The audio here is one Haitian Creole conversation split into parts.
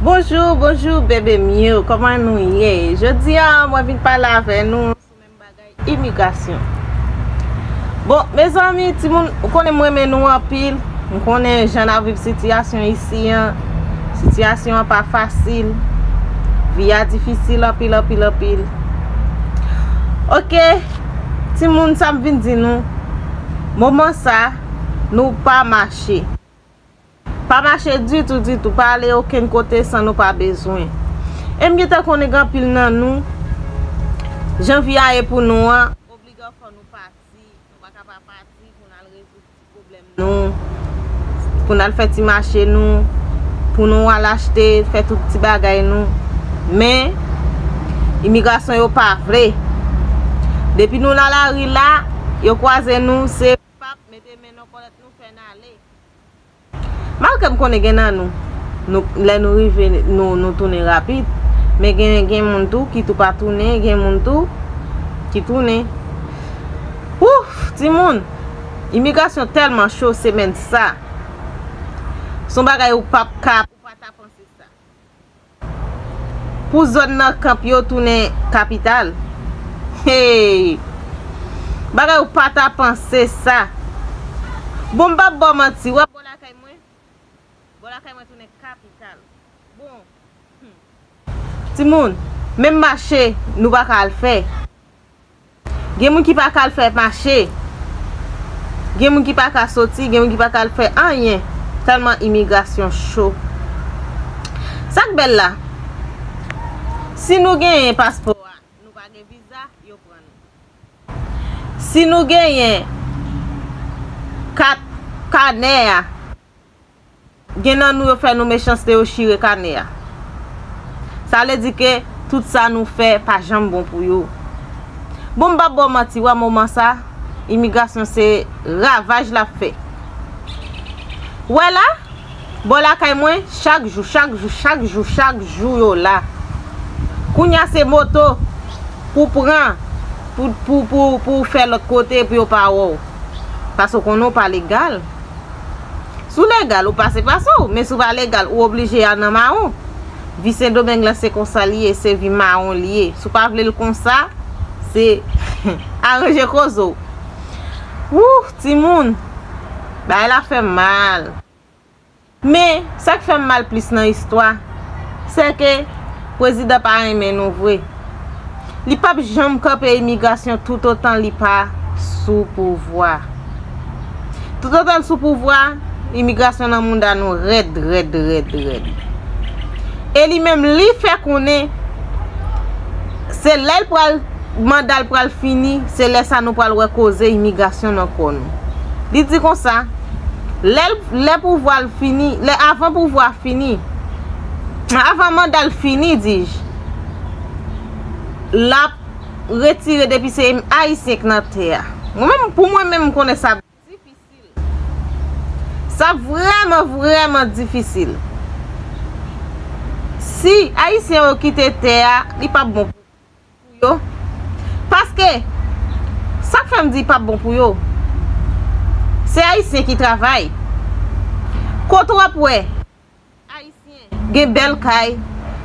Bonjour bonjour bebe m yo koman nou ye jodi a mwen vin pale avè nou sou menm bagay imigrasyon bon mezanmi timoun ou konnen m renmen nou anpil m konnen jan nap viv sitiyasyon isi an sitiyasyon an pa fasil vi a difisil anpil anpil anpil ok timoun sa m vin di nou moman sa nou pa mache. Pa mache ditou ditou, pa ale okenn kote san nou pa bezwen. E m gen tan konnen gen anpil nan nou, jan vi a ye pou nou an, obligan fò nou pati, nou pa ka pa pati pou n al rezoud ti pwoblèm nou, pou n al fè ti mache nou, pou nou al achte, fè tout ti bagay nou. Men, imigrasyon yo pa vle. Depi nou nan lari la, yo kwaze nou, se. Pap mete men nan kòlèt nou fè n ale. Malgre m konnen gen nan nou, nou lè nou rive nou tounen rapid, men gen gen moun tou ki tou pa tounen, gen moun tou ki tounen. Ouff timoun, imigrasyon tèlman cho semèn sa. Son bagay ou pap ka. Ou pa ta panse sa. Pou zòn nan kanp yo tounen kapital. Hey! Bagay ou pa ta panse sa. Bon m pap ba w manti, wè bò lakay mwen, bò lakay mwen tounen kapital. Bon, humm! Timoun, menm mache nou pa ka al fè. Gen moun ki pa ka al fè mache. Gen moun ki pa ka soti, gen moun ki pa ka al fè anyen tèlman imigrasyon cho. Sa k bèl la, si nou genyen paspò a, nou pa gen viza, yo pran nou. Si nou genyen kat kanè a. Gen nan nou yo fè nou mechanste yo chire kanè a. Sa vle di ke tout sa nou fè pa janm bon pou yo. Bon m pap ba w manti wè moman sa imigrasyon se ravaj lap fè. Wè la, bò lakay mwen chak jou, chak jou, chak jou, chak jou yo la. Kounya se moto pou w pran pou pou pou pou w fè lòt kote pou yo pa wè w. Paske w konnen w pa legal. Si w legal, ou pase pase w, men si w pa legal, ou oblije al nan mawon. Vi Sendomeng lan se konsa li ye, se vi mawon li ye. Si w pa vle l konsa, se aranje koze w. Woo, timoun! Bagay la fè m mal. Men, sa k fè m mal plis nan istwa, se ke Pwezidan pa renmen nou vre. Li pap janm kanpe imigrasyon toutotan li pa sou pouvwa. Toutotan l sou pouvwa, imigrasyon nan mouda nou rèd rèd rèd rèd. E li menm li fè konnen se lè l pral manda l pral fini, se lè sa nou pral wè koze imigrasyon nan kò nou. Li di konsa, lè l lè pouvwa l fini, lè avan pouvwa fini, avan manda l fini dij. lap retire depi se ayisyen k nan tè a mwen menm pou mwen menm m konnen sa difisil sa vrèman vrèman difisil si ayisyen yo kite tè a li pap bon pou yo paske sak fèm di pap bon pou yo se ayisyen ki travay kot wap wè Ayisyen. Gen bèl kay.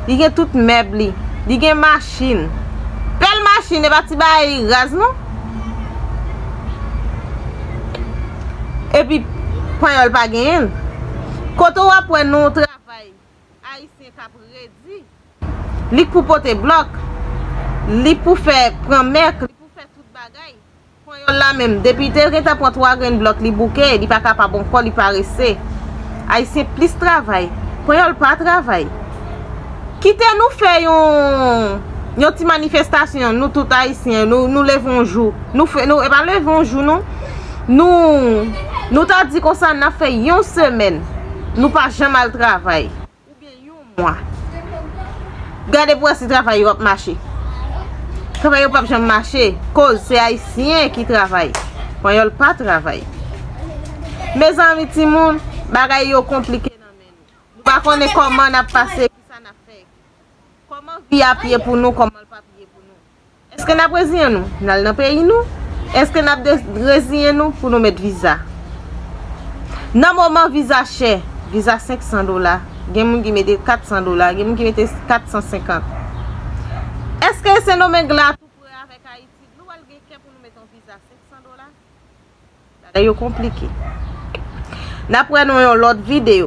Li gen tout mèb li. Li gen machin. Bèl machin e pa ti bagay raz non. E pi panyòl pa genyen l. Kote w ap wè non travay Ayisyen k ap redi. Li k pou pote blòk. Li k pou fè pran mèk. Li k pou fè tout bagay. Panyòl la menm, depi te gentan pran 3 grenn blòk li bouke, li pa kapab ankò, li parese. Ayisyen plis travay. Panyòl pa travay. Kite nou fè yon ti manifestasyon, nou tout Ayisyen, nou leve yon jou. E pa leve yon jou non. Nou ta di konsa nan fè yon semèn, nou pa janm al travay. oubyen yon mwa gade pou wè si travay yo ap mache travay yo pap janm mache koz se ayisyen ki travay panyòl pa travay mezanmi timoun bagay yo konplike nan men nou nou pa konnen kòman nap pase kisa nap fè kòman vi ap ye pou nou kòman l pap ye pou nou. Eske nap reziyen nou nal nan peyi nou eske nap reziyen nou pou nou met viza nan moman viza chè viza 500 dola gen moun ki mete 400 dola gen moun ki mete 450 eske sendomeng la tou pre avèk ayiti nou wèl gen kè pou nou met yon viza 500 dola bagay yo konplike nap wè nou yon lòt video.